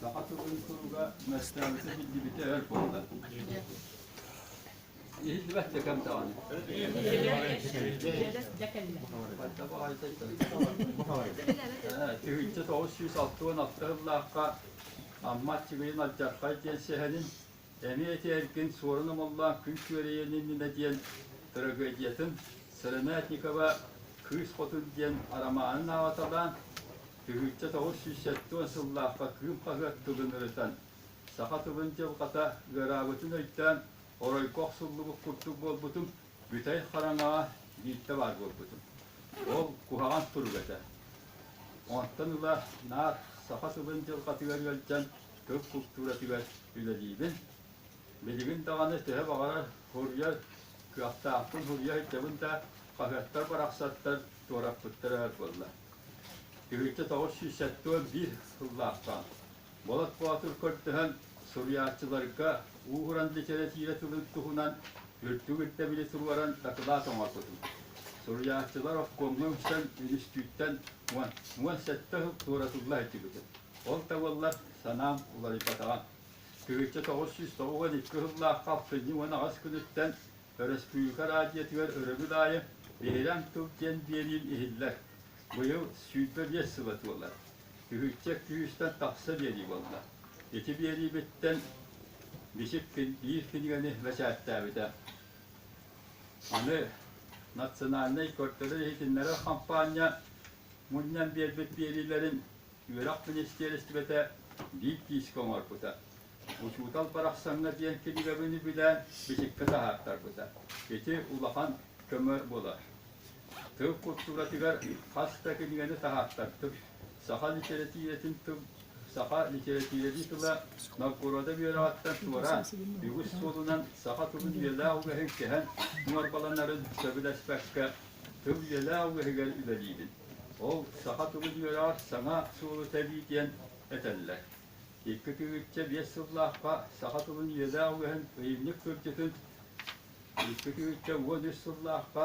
Саха тылын туруга Мәстаанча биллибитэ өр буолла. Иһиллибэт декем даҕаны. Пайда баҕайыта Тыһыынча тоҕус сүүс алты уон алта сыллаахха Аммат Чигирин Алдьархай диэн сэһэнин эмиэ этэргин Суорун Омоллоон күн күөрэйэн иннинэ диэн трагедиятын Сыронятникова Кыыс Хотун диэн арамаанын ааталаан Түһүлтэ тоҕус сүүс сэттэ сыллаахха Кыым хаһыат тылын ырытан, саха тылын дьылҕата ыараабытын өйдөөн, оройго охсуллубут курдук буолбутум, бүтэй хараҥаҕа биирдэ баар буолбутум. Ол куһаҕан турук этэ. Онтон ыла наар саха тылын дьылҕатыгар ыалдьан, тыл култууратыгар үлэлиибин. Билигин даҕаны төһө баҕарар хоруйар, кыахтаахпын хоруйа сылдьабын да, хаһыаттар барахсаттар туораппыттара өр буолла. Киһитэ тоҕус сүүс сэттион биир сыллаахтаан, Болот Боотур көрдөһөн суруйааччыларга уухуран литэрэтиирэ тылын туһунан үрдүк ирдэбили туруоран дакылаат оҥорбутум. Суруйааччылар обкомҥа үксэн үнүстүүттэн уон, уон сэттэ сыл туоратылла сылдьыбытым. Ол да буоллар санаам уларыйбатаҕа. Тыһыынча тоҕус сүүс тоҕуон икки сыллаах алтынньы уон аҕыс күнүттэн Өрөспүүбүлүкэ радиотыгар өрөбүл аайы Биһирэм тыл диэн биэриим иһиллэр. Быйыл сүүрбэ биэс сыла туолар. Күһүччэ күүстэн тахса биэрии буолла. Ити биэриибиттэн биир кинигэни бэчээттээбитэ. Аны национальнай көрдөрөр иһитиннэрэр хампаанньа мунньан биэрбит биэриилэрин үөрэх министиэристибэтэ биир киискэ оҥорбута. Учуутал барахсаҥҥа диэн кирибэбини билээн бичиккэ таһаартарбыта. Ити улахан көмө буолар. Тыл култууратыгар хас да кинигэни таһаартардым. Саха литэрэтиирэтин тыл саха литэрэтиирэтин тыла Новгорода үөрэҕиттэн туораан, үгүс суолунан саха тылын үйэлээх үгэһин кэһэн муҥарбаланарын сөбүлэспэккэ тыл үөлэ алгыһыгар үлэлиибин. Ол саха тылын үөрэҕэр саҥа суолу тэбии диэн этэллэр. Икки тыһыынча биэс сыллаахха саха тылын үөлэ алгыһын ыйынньык кырдьытын икки тыһыынча уон үс сыллаахха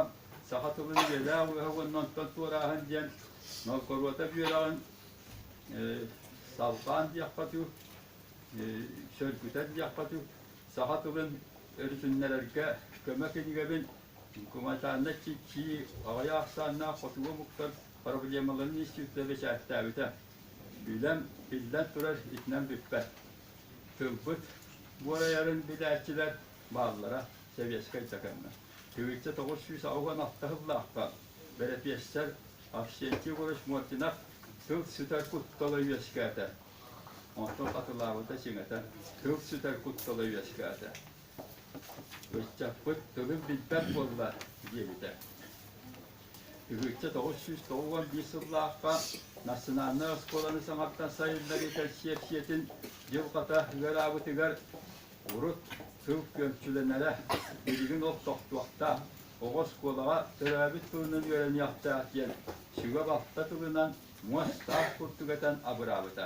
саха тылын үөлэ алгыһа уонна онтон туорааһын диэн Новгородов үөрэҕин салҕаан диэххэ дуу, сөргүтэн диэххэ дуу, саха тылын өрүсүннэрэргэ көмө кинигэбин Гуманитарнай чичии аҕыйах ахсааннаах хотугу омуктар проблемаларын института бэчээттээбитэ. Үлэм, биллэн турар, итинэн бүппэт. Тылбыт буорайарын билээччилэр бааллара сэбиэскэй да кэннэ. Түһүлчэ тоҕус сүүс аҕыс уон ахтыһыллаахтаах бэрэпиэссэр Авсентий Егорович Мординов тыл сүтэр куттала үөскээтэ. Онтон хатылаабыта сиҥэтэн, тыл сүтэр куттала үөскээтэ. Ыччаппыт тылын билбэт буолла, диэбитэ. Тыһыычча тоҕус сүүс тоҕус уон биир сыллаахха национальнай оскуоланы саҥаттан сайыннарыы кэнсиэпсийэтин дьылҕата ыараабытыгар урут тыл күөмчүлэнэрэ билигин ол тохтуохтаах, оҕо оскуолаҕа төрөөбүт тылынан үөрэниэхтээх диэн сүгэ-балта тылынан муостаах курдук этэн абыраабыта.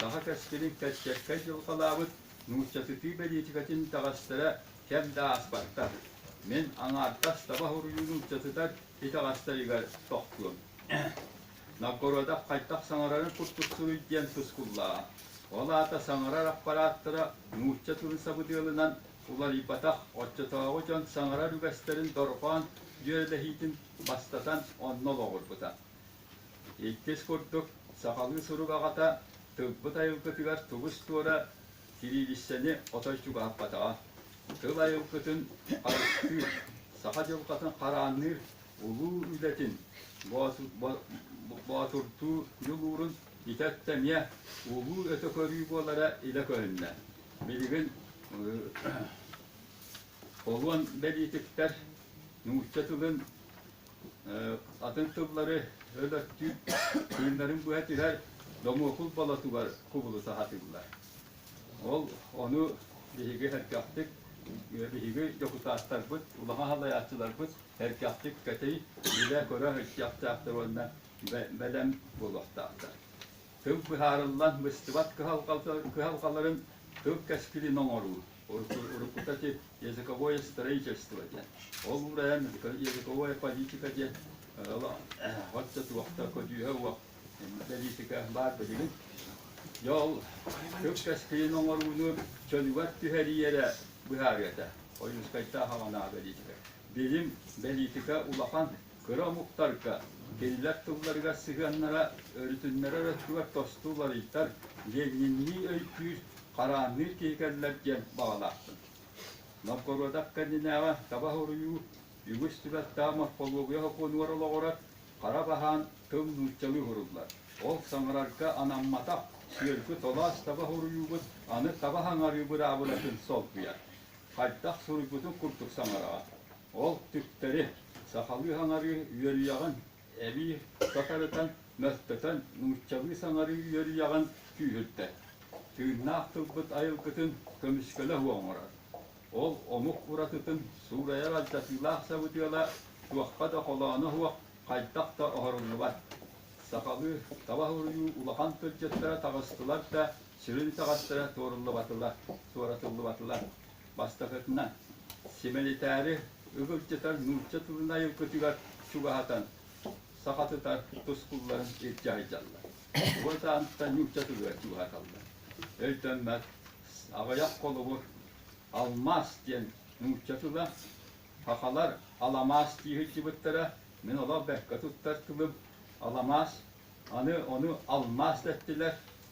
Саха кэскилин кэскэккэ дьылҕалаабыт нууччатытыы бэлиитикэтин итэҕэстэрэ кэм да ааспаттар. Мин аҥаардас таба хоруйу нууччатытар итэҕэстэригэр тохтуом. Новгородов хайдах саҥарарын курдук суруй диэн тускуллаҕа. Ол аата саҥарар аппарааттара нуучча тылын сабыдыалынан уларыйбатах, оччотооҕу дьон саҥарар үгэстэрин дорҕоон дьүөрэлэһиитин бастатан онно олоҕурбута. Иккис курдук, сахалыы сурук аҕата тылбыт айылгытыгар тубус-туора сириилиссэни отой чугаһаппатаҕа. Тыл айылгытын харыстыыр, саха дьылҕатын хараанныыр улуу үлэтин боотурдуу ньулуурун ити өттө эмиэ улуу өтө көрүү буолара илэ көһүннэ. Билигин холуон бэлиитиктэр нуучча тылын атын тыллары өлөртүү тыыннарын быһа түһэр домуокул болотугар кубулута сатыыллар. Ол ону биһиги эркэхтик биһиги дьокутааттарбыт, улахан салайааччыларбыт эркэхтик кэтэй билэ-көрө сылдьахтаахтар уонна бэлэм буолуохтаахтар. Тыл быһаарыллан быстыбат кыһалҕаларын тыл кэскилин оҥоруу уруккута ити языковое строительство диэн. Ол уран языковая политика диэн вот туохта көдүүһэ уох политика баар билигин. Дьол көпкөскейин оҥорууну чөлүгэр түһэриэрэ быһаарыата. Ойуускайтаах аҕанаа политика. Билим, политика улахан Кыра омуктарга, кинилэр тылларыгар сыһыаннара, өрүтүннэрэр өттүгэр тосту уларыйдар, лениннии өйдүүр, хараанныыр киһи кэллэр диэн баҕалаахпын. Новгородов кэннинээҕи таба хоруйуу үгүс түбэлтэҕэ морфология сокуонугар олоҕурар хара баһаан тыл нууччалыы уһуруллар. Ол саҥарарга анамматах сүөргү толоос таба хоруйуубут аны таба саҥарыы быраабылатын солбуйар. Хайдах суруйбутун курдук саҥараҕа. Ол түктэри, сахалыы саҥарыы үөрүйэҕин эбии сатарытан, мөлтөтөн, нууччалыы саҥарыы үөрүйэҕин күүһүрдэр, тыыннаах тылбыт айылгытын көмүскэлэ уоҥурар. Ол омук уратытын суурайар алдьатыылаах сабыдыала туохха да холооно суох, хайдах да оһоруллубат. Сахалыы таба суруйуу улахан тылдьыттара таҕыстылар да, сүрүн таҥастара туоруллубатылар, туоратыллыбатылар. бастакытынан, симэлитээри ыһылдьытар нуучча тылын айылгытыгар чугаһатан, сахатытар тускулларын илдьэ сылдьаллар. Уон саанытта нуучча тылыгар чугаһаталлар. Өйдөммөт аҕыйах холобур Алмаас диэн нуучча тыла, Хахалар аламаас дии сылдьыбыттара, мин олох бэккэ туттар тылым, аламаас, аны ону алмаас дэттилэр,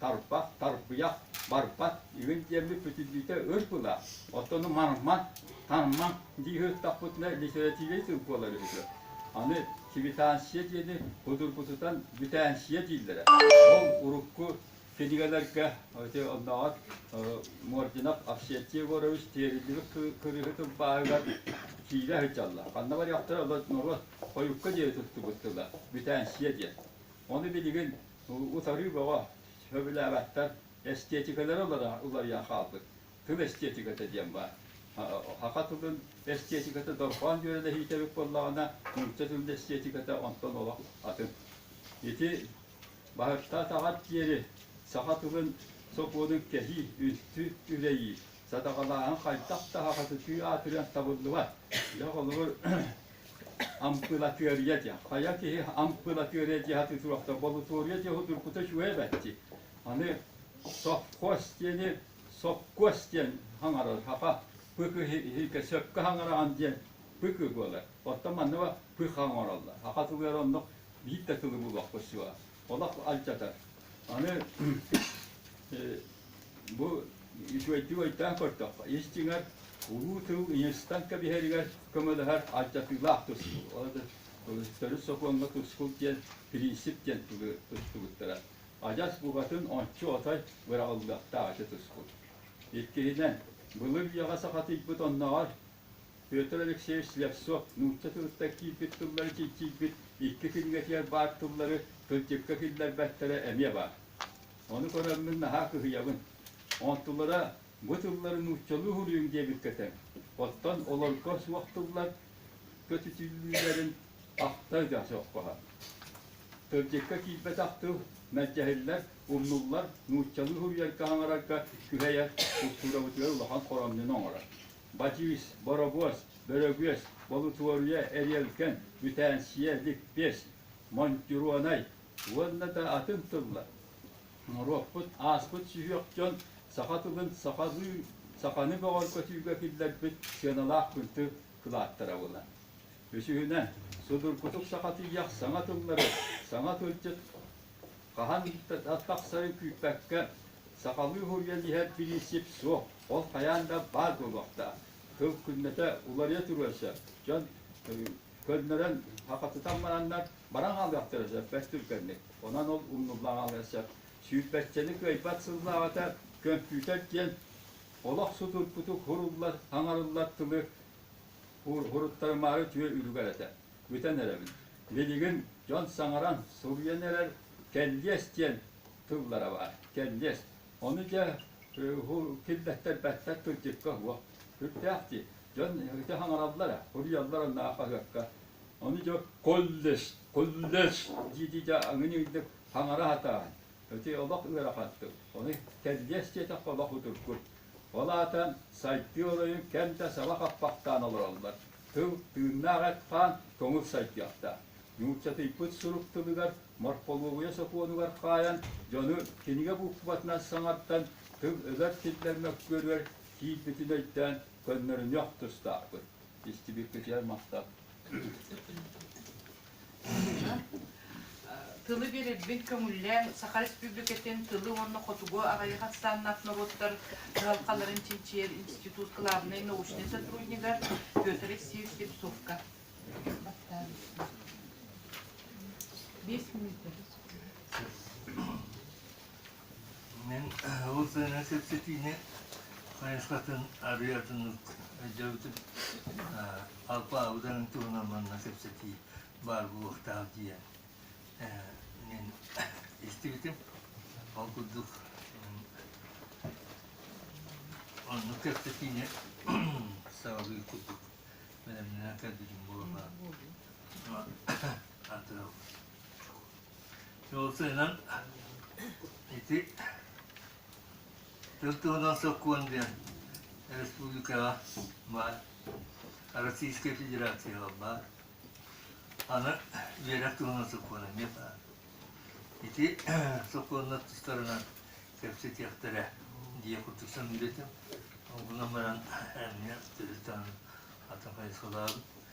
тарбах, тарбыйах, барбат, үһүн диэммит бүтүллүүтэ өр була, оттону марма, тарма дии ыһыктахпытына литеративный тыл буолар үһүтэ. Аны квитанция диэни кудургутутан бүтэнсия дииллэрэ. Ол урукку кинигэлэргэ оннооҕор Мординов Овсентий Егорович тиэриллибит кырыыһы тылбааһыгар киирэ сылдьаллар. Ханна барыахтара, олор норуот хойукка диэри туттубут тыла, бүтэнсия диэн. Ону билигин Утарыы бөҕө, сөбүлээбэттэр, эстиэтикэлэрэ уларыйан хаалбыт. Тыл эстиэтикэтэ диэн баар. Саха тылын эстиэтикэтэ дорҕоон дьүөрэлэһиитэ эбит буоллаҕына, нуучча тылын эстиэтикэтэ онтон олох атын. Ити Баһыттаатаҕар диэри саха тылын сокуонун кэһии, үнтү үрэйии, Садакалааһын хайдах таһаҕа сытыы аатырыан табыллыбат. Дьэ, холобур, ампылатыарыйа дьэ. Хайа киһи ампылатыарыйа дьиэ хатыы туруохта, болутуоруйа дьиэ утуркута үчүгэй эбэтти. Аны совхоз диэни совхоз диэн хаҥарар, хапа пык иһиркэ сөпкө хаҥараҕын диэн пык буолар. Оттон манна пых хаҥараллар. Хаха тылыгар оннук биир да тылы булуохпут суоҕа. олох алдьатар. Аны бу үчүгэйдик өйдөөн көрдөххө, истиҥэр улуу тыл Инстан кэбиһэригэр көмөлөһөр алдьатыылаах тустуу. Төрүт сокуоҥҥа тускул диэн принцип диэн тустубуттара. Адьас букатын ончу отой быраҕыллыахтаах ити тускул. Иккиһинэн, былыр үйэҕэ сахатыйбыт оннооҕор Петр Алексеевич Слевцов нуучча тылыттан киирбит тыллары чинчийбит икки кинигэтигэр баар тыллары кырдьыкка киллэрбэттэрэ эмиэ баар. Ону көрөммүн наһаа кыһыйабын. Онтулара бу тыллары нууччалыы суруйуҥ диэбиккэ тэҥ. Оттон олорго суох тыллар көтүтүллүүлэрин ахта да соххоһо. Кырдьыкка киирбэтэх тыл мэлдьэһиллэр, умнуллар, нууччалыы суруйарга-хаҥарарга күһэйэр, култуурабытыгар улахан хоромньуну оҥорор. Батиис, Боробуос, Бөрөгүөс, Болутуоруйа, Эриэлкэн, Бүтээнсийэ, Липпиэс, Монтюруонай уонна да атын тыллар. Норуоппут, ааспыт сүһүөх дьон саха тылын сахалыы, саханы бөҕөргөтүүгэ киллэрбит сыаналаах кынты кылааттарабына. Үсүһүнэн, судургутук сахатыйах саҥа тыллары, саҥа тылдьыт Хаһан ииппэт-ат тахсарын күүппэккэ, сахалыы уһуруйан иһэр бириинсип суох, ол хайаан да баар буолуохтаах. Сыл күннэтэ уларыйа туруон сөп, дьон көннөрөн, хахатытан бараннар баран хаалыахтара сөп бэс түргэнник. Онон ол умнуллаҕаҕыан сөп. Сүүрбэччэни кыайбат сыллааҕыта көмпүүтэр диэн олох судургутук хуруллар, хаҥарыллар тылы уруттарымаары түһэ үлүгэр этэ. Бүтэн эрэбин. Билигин дьон саҥаран суруйан эрэр кэллиэс диэн тыллара баар. Кэллиэс. Ону дьэ киллэттэрбэттэр тылдьыкка уох сүрдээх дии. Дьон ити хаҥараллар, суруйаллар онно хаһыакка. Ону дьэ куллес, куллес дии-дии дьэ аҥыньыыдык хаҥара сатаан, ити олох ыарахан тыл. Ону кэллиэс диэтэх олох утургу. Ол аата сайдыы оройун кэм да саба хаппахтаан олороллор. Тыл тыыннаах эт-хаан көҥүл сайдыахтаах. Нууччатыйбыт сурук тылыгар морполуогуйа сокуонугар хаайан, дьону кинигэ буукубатынан саҥартан тыл ыгар киллэр мөккүөрүгэр киирбитин өйдөөн көннөрүнүөх тустаахпыт. Истибиккитигэр махтал. Тылы биэрэрбин көҥүллээн, Саха Республикатын тылы уонна хотугу аҕайах ахсааннаах норуоттар дьаһалхаларын чинчийэр институт кылаабынай научнай сотруднига Петр Алексеевич Слепцовка. Биэс мүнүүтэ. Мин ол сыһыаҥҥа кэпсэтиини хайысхатын арыый атыннык өйдөөбүтүм. Алпаабытарын туһунан манна кэпсэтии баар буолуохтаах диэн мин истибитим. Ол курдук оннук кэпсэтиини саҕалыыр курдук бэлэмнэнэн кэлбитим буолуо атыраабыт. Ол сыынан ити тыл тылынан сокуон диэн республикаҕа баар, Российская Федерацияҕа баар. Аны үөрэх туһунан сокуон эмиэ баар. Ити сокуоннар тустарынан кэпсэтиэхтэрэ дии курдук саныыбытым. Онтунан баран эмиэ төрүт атын хайысхалаах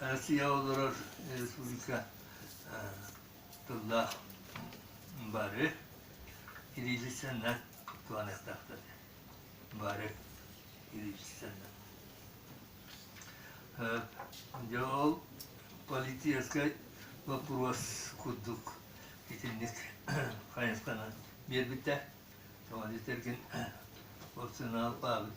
Россия олорор республика тыллаах бары илиилисэннэр туһаныахтаахтар бары илиилисэннэр дьэ ол политическай боппуруос курдук итинник хайысханан биэрбиттэр тоҕо диэтэргин ол сыаналаабыт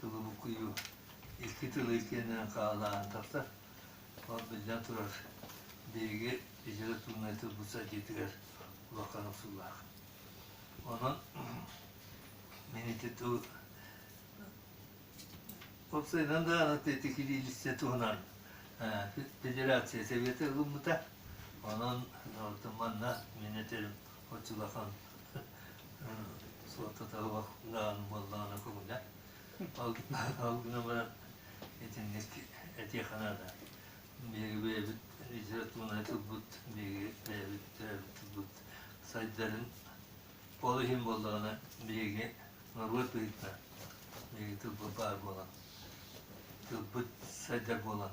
Субулукуйу икки тыл иккиэнинэн хаалларан тахсар. Ол биллэн турар, биһиги литературнай тылбыт сайдыытыгар улахан охсуулаах. Онон мин ити тыл уопсайынан даҕаны аттык илиилистэ туһунан федерация сэбиэтэ ылыммыта. Онон манна мин этэрим От улахан суоттатаабах даан буоллаҕына көҥүлэ. Ол гынан баран итинник этиэхэнэ да биһиги бэйэбит литературнай тылбыт биһиги бэйэбит төрөөбүт тылбыт сайдарын ол иһин буоллаҕына биһиги норуот быһыытынан биһиги тылбыт баар буолан тылбыт сайдар буолан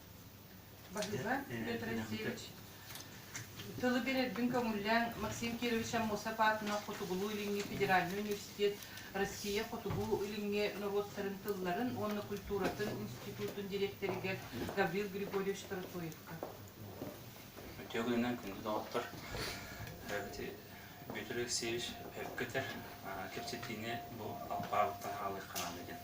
Баһыылан Петр Алексеевич, тылы бэрэрбин көҥүллээн Максим Кирович Аммосов аатынан Хотугулуу-Илиҥҥи федеральнай университет Россия Хотугу-Илиҥҥи норуоттарын тылларын уонна культуратын институтун дириэктэригэр Гаврил Григорьевич Протоевка. Төгүлүнэн күндү доҕоттор, Петр Алексеевич, көтөр кэпсэтиини бу алпаабыттан хаалыахха наада диэн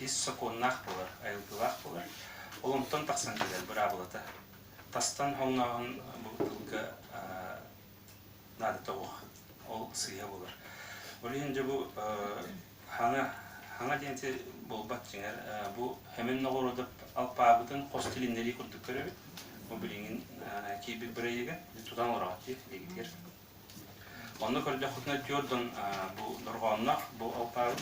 ис сокуоннаах буолар, айылгылаах буолар. Ол онтон тахсан кэлэр быраабылата. Тастан хоҥнооһун бу тылга наадата уох. Ол сыыһа буолар. Ол иһин дьэ бу хаҥа хаҥа диэнти буолбат дьиҥэр бу хэмин ноҕоруодап алпаабытын хос тилиннэрии курдук көрөбүт. Бу билиҥин киирбит бырайыгын тутан олороҕут диир дигитигэр Онно көрдөххүтүнэ түөрт дон бу дорҕоонноох бу алпаабыт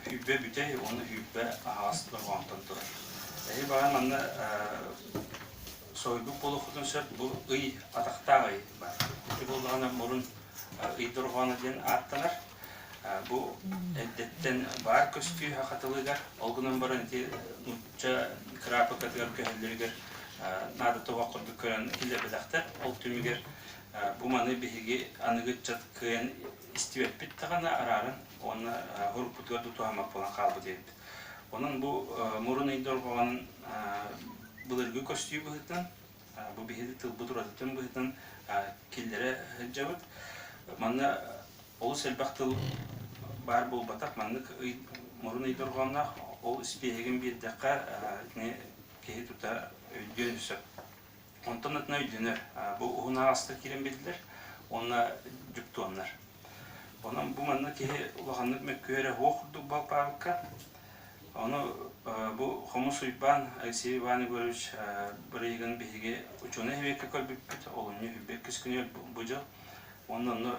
үүрбэ бүтэй уонна үүрбэ аһаҕас дорҕоонтон турар. Эһи баҕа манна соһуйбут буолуоххутун сөп бу ый атахтаах ый баар. Ити буоллаҕына мурун ый дорҕооно диэн ааттанар. Бу эрдэттэн баар көстүүһэ хатылыгар, ол гынан баран ити нуучча кыраапыкатыгар көһөллөрүгэр наада тобох курдук көрөн киллэрбэтэхтэр. Ол түмүгэр Бу маны биһиги аныгы ыччат кыайан истибэппит даҕаны арааран уонна уруккутугар да туһаммат буолан хаалбыт диэбит. Онон бу мурун ый дорҕоҕун былыргы көстүү быһыытын, бу биһиги тылбыт уратытын быһыытын киллэрэ сылдьабыт. Манна олус элбэх тыл баар буолбатах. Маннык ый мурун ый дорҕооҥҥо ол испиэһэгин биэрдэххэ итини киһи тута өйдүөн сөп. Онтон атына өйдөнөр. Бу уһуннаах аска киирэн биллэр уонна дьуптуоннар. Онон бу манна киһи улаханнык мөккүһэрэ уох курдук балпаабыкка. Ону бу Хомус Уйбаан Алексей Иван Егорович бырайыгын биһиги учуонай эбиэккэ көрбүппүт, олунньу үһүйбэт күскүнү бу дьыл Уонна онно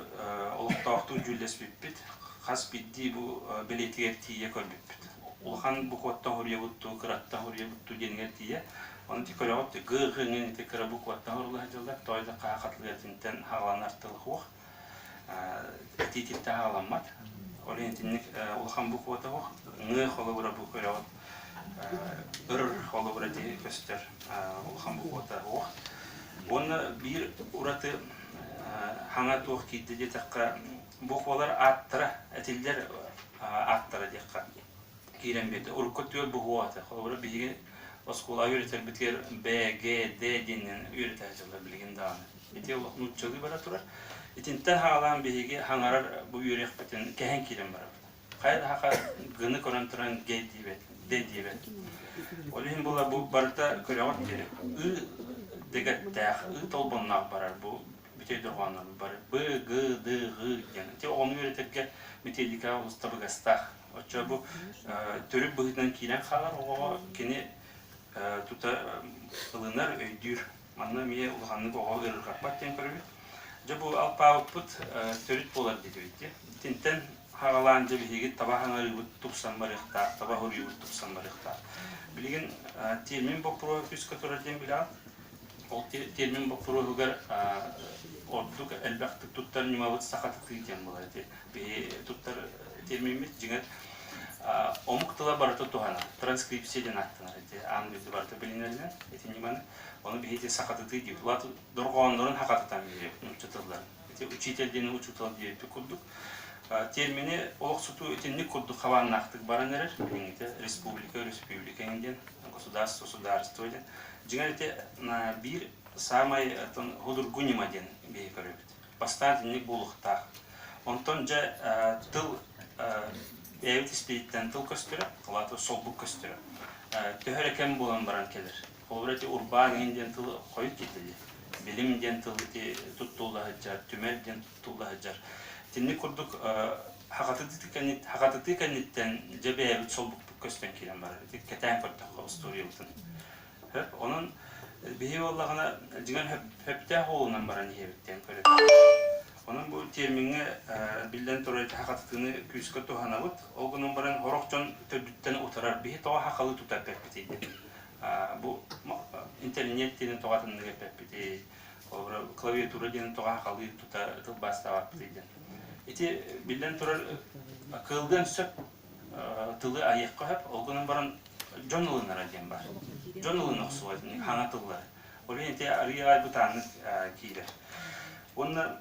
олохтоохтук дьүүллэспиппит. Хас биирдии бу бэлиэтигэр тиийэ көрбүппүт. Улахан букваттан хоруйабыт дуу, кыраттан хоруйабыт дуу диэнгэр тиийэ. Ону ити көрөҕүт, гы-ы ҥын ити кыра букваттан хоруулаһа дьаллар, той да хаһа хатылыатынтан хаалан артылыхуох. Этиититтэн хааламмат. Ол итинник улахан буквата уох, ҥы холобура бу көрөҕүт Өр холобура дии көстөр улахан бухуота уох. Уонна биир ураты хаҥа туох киирдэ диэтэххэ, бухуолар ааттара, этиллэр ааттара диэххэ киирэн биэрдэ. Урукку түөрт бухуота. Холобура биһиги оскуолаҕа үөрэтэрбитигэр Б, Г, Д диэнинэн үөрэтэ сылдьаллар билигин даҕаны. Ити олох нууччалыы бара турар. Итинтэн хаалаан биһиги хаҥарар бу үөрүйэхпитин кэһэн киирэн барабыт. хайа даһака гыны көрөн туран гей диебет де диебет ол иһин була бу барыта көрөҕүт диэри ы дэгэттээх ы толбоннаах барар бу бүтэй дорҕооннор бары б г д г диэн ити оҕону үөрэтэргэ метеликаҕа улуста быгастаах оччо бу төрүт быһыытынан киирэн хаалар оҕоҕо кини тута ылынар өйдүүр Манна эмиэ улаханнык оҕо ыарырҕаппат диэн көрөбүт. Дьэ, бу алпаабыппыт төрүт буолар диэтэбит дии. Итинтэн хаҕалаан, дьэ, биһиги таба хаҥарыыбыт тупсан барыахтаах, таба уруйубут тупсан барыахтаах. Билигин термин боппуруоһа күүскэ турар диэн билэҕит. Ол термин боппуруоһугар ордук элбэхтик туттар ньымабыт сахатытыы диэн буолар ити. Биһи туттар термиммит дьиҥэр омук тыла барыта туһанар, транскрипция диэн ааттанар ити. Аан дойду барыта билинэринэн ити ньыманы Ону биһиги сахатытыы диэбит. Уоту дорҕооннорун хахатытан диэбит нууччатылларын. Ити учитель диэни учутал диэбит курдук. Термини олохсутуу итинник курдук хабааннаахтык баран эрэр. Билиҥҥитэ республика республика диэн, государство судаарство диэн. Дьиҥэр ити биир саамай худургу ньыма диэн биһи көрөбүт. Бастаан итинник буолуохтаах. Онтон дьэ тыл бэйэбит испититтэн тыл көстөрө, солбук көстөрө. Төһө эрэ кэм буолан баран кэлэр. Холобура, ити урбаан иһин диэн тыл хойут иитэ дии. Билим диэн тыл ити туттулла сылдьар, түмэл диэн туттулла сылдьар. Итинник курдук хахатытыы кэннит хахатытыы кэнниттэн дьэ бэйэбит солбукпут көстөн киирэн барар. Ити кэтээн көрдөххө устуоруйабытын. Сөп. Онон биһиги буоллаҕына дьиҥэр сөптөөх уолунан баран иһэбит диэн көрөбүт. Онон бу тиэмиҥҥэ биллэн турар хахатытыыны күүскэ туһанабыт. Ол гынан баран, сорох дьон төрдүттэн утарар. Биһи тоҕо хахалы тутар кэлбитий диэн. бу интэрниэт диэнин тоҕатыннык эппиппитий холобура клавиатура диэн тоҕа халыып тута тылбаастаабаппытый диэн ити биллэн турар кыылган сөп тылы айыахха сөп ол гынан баран дьон ылынара диэн бар дьон ылына охсубат хаҥа тыллары олен ити арыйаҕай бытааннык киирэр уонна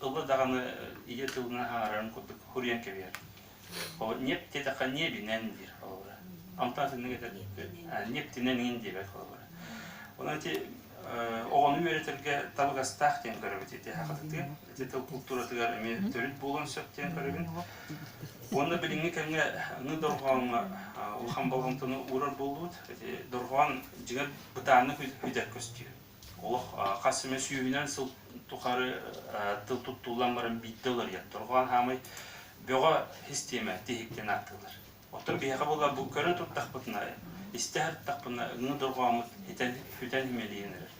тылы даҕаны ийэ тылынан аҥаарын курдук хуруйан кэбиһэр. Нет диэтэххэ ниэбинэн диир холобура. Онтон итинник этэр нептинэн иин диэбэт холобура. Онон ити оҕону үөрэтэргэ табыгастаах диэн көрөбүт ити хахатытыгар, ити тыл култууратыгар эмиэ төрүт буолуон сөп диэн көрөбүн. Уонна билиҥҥи кэмҥэ аны дорҕооҥҥо улахан болҕомтону уурар буоллубут. Дорҕоон дьиҥэр бытааннык үдэр көстүү. Олох хас эмэ сүүһүнэн сыл тухары тыл туттуллан баран биирдэ уларыйан дорҕоон хаамай бөҕө хис тиэмэ тиһиктэн ааттыыллар. Оттон биһиэхэ буларбыт көрө турдахпытына, истэ сырыттахпына өҥө дорҕооммут итэн хүтэн имэлийэн эрэр.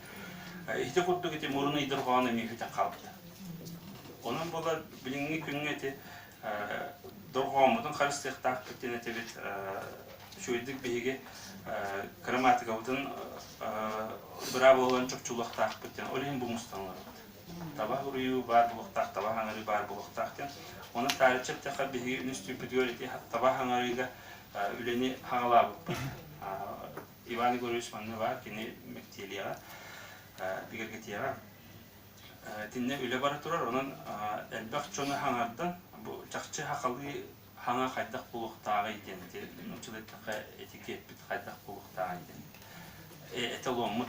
Ити курдук ити мурун ый дорҕоон эмиэ хүтэн хаалбыта. Онон буолар билиҥҥи күҥҥэ ити дохуоммутун харыстыахтаахпыт диэн этэбит үчүгэйдик биһиги кырамаатыкабытын быраа буолан чопчулуохтаахпыт диэн ол иһин бу мустаныларбыт таба уруйуу баар буолуохтаах таба хаҥарыы баар буолуохтаах диэн оны таарыччы эттэххэ биһиги үнүстүүппүтүгэр ити таба хаҥарыыга үлэни хаҥалаабыппыт Иван Егорович манны баар кини мэктиэлиэҕэ бигэргэтиэҕэ итиннэ үлэ бара турар онон элбэх дьону хаҥардан бу чахчы сахалыы хаҥа хайдах булуохтааҕый диэн ити нууччаларга этикетпит хайдах булуохтааҕый диэн эталоммут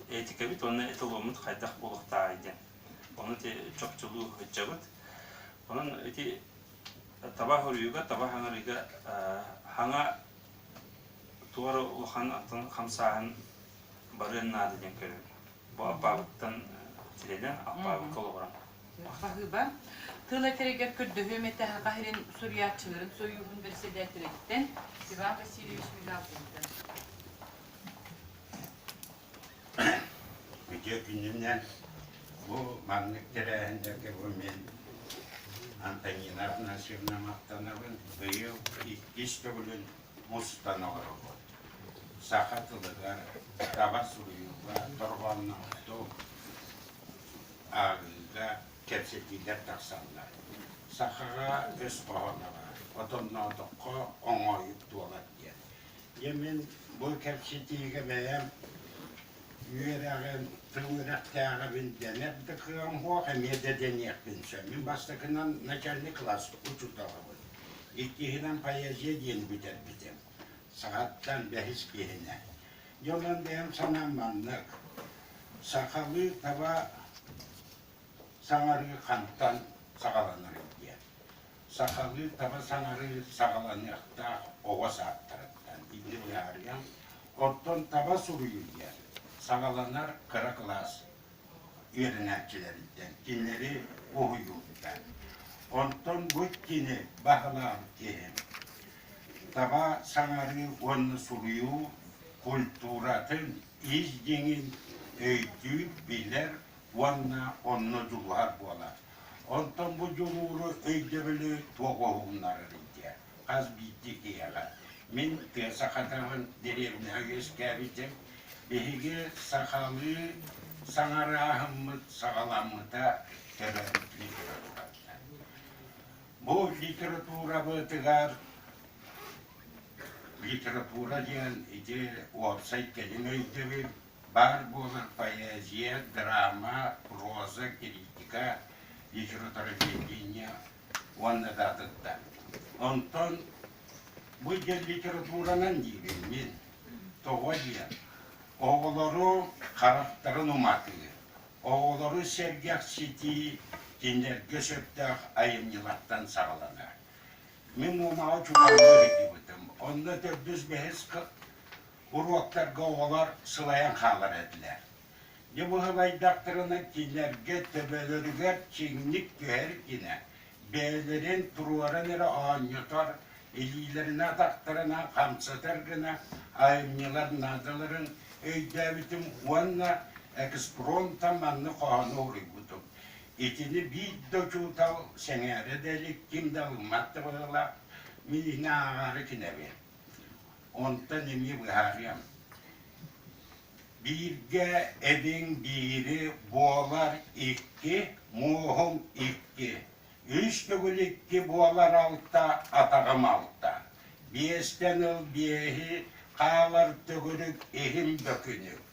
этикэбит уонна эталоммут хайдах булуохтааҕый диэн ону чопчулуу сылдьабыт онон ити таба хоруйуга таба хаҥарыыга хаҥа туора улахан антон хамсааһын барыан наада диэн көрөбүн Бу Аппаабыттан сирэнэн Аппаабыкка олоҕуран. Хаһыыба тыл этэригэр көрдөһүөм этэ хас ирин суруйааччыларын суруйуубун бэрэссэдээтэлиттэн Иван Васильевич Мигалкиниттан. Үтүө күнүнэн бу маннык тэрээһиннэргэ бу мен Антонина Афанасьевна махтанабын. Быйыл иккис төгүлүн устан олоробут. Саха тылыгар, таба суруйууга, дорҕоонноохтук ааҕыыга кэпсэтиилэр тахсаллар. Сахаҕа өс хоһооноҕо, отонноотоххо оҥоойук туолар диэн. Дьэ мин бу кэпсэтиигэ бэйэм үөрэҕим, тыл үөрэхтээҕим дэнэр да кыаҕым суох, эмиэ да дэниэхпин сөп. Мин бастакынан начальник класс учууталабын. Иккиһинэн поэзия диэн бүтэрбитим. Саҕаттан бэһис киһинэ. Дьолун бэйэм санаам маннык. Сахалыы таба саҥарыы хантан саҕаланарый диэн. Сахалыы таба саҥарыы саҕаланыахтаах оҕо саадтарыттан итини быһаарыам. Оттон таба суруйуу диэн саҕаланар кыра кылаас үөрэнээччилэриттэн кинилэри уһуйуубута. Онтон бу кини баһылаан иһин таба саҥарыы уонна суруйуу культуратын ис дьиҥин өйдүүр, билэр уонна онно дьулуһар буолар. Онтон бу дьулууру өйдөбүлү туох уһугуннарар идиэ? хас биирдии киһиэхэ. Мин тыа сахатааҕын дэриэбинэҕэ үөскээбитим. Биһиги сахалыы саҥарааһыммыт саҕаламмыта төбөбүт литератураттан. Бу литературабытыгар литература диэн ити уопсай кэлим өйдөбүл баар буолан поэзия, драма, проза, критика, литературоведение уонна да атытта. Онтон бу диэн литературанан диибиммин, тоҕо диэн, оҕолору харахтарын уматыы, оҕолору сэргэхситии кинилэргэ сөптөөх айымньылартан саҕаланар. Мин Умаҕы чукалга иһитибитим. Онно төрдүс-бэһис уруоктарга оҕолор сылайан хаалар этилэр. Ньумуһалайдахтарына кинилэргэ төбөлөрүгэр чиҥник түһэр гинэ, бэйэлэрин туруоран эрэ оонньотор, илиилэрин атахтарынан хамсатар гына айымньылар наадаларын өйдөөбүтүм уонна экспромтан манна хоһоону уруйбутум. Итини биир да учуутал сэҥээрэ да илик ким да ылыммат да быһыылаах, мин иһин ааҕаары кинэби. Онтон эмиэ быһаарыам. Бииргэ эбиҥ биири буолар икки, мууһуҥ икки, үс төгүл икки буолар алта, атаҕым алта, биэстэн ыл биэһи, хаалар төгүрүк иһим бөкүнүк,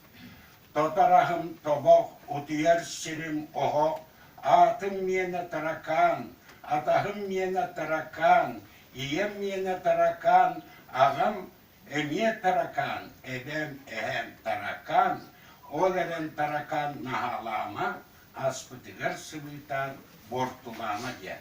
тотараһым тобох, утуйар сирим оһох, аатым миэнэ таракаан, атаһым миэнэ таракаан, ийэм миэнэ таракаан, аҕам Эмиэ таракаан, эбэм, эһээм таракаан, ол эрэн таракаан наһаалаама, аспытыгар сыбыытаан буортулаама диэн.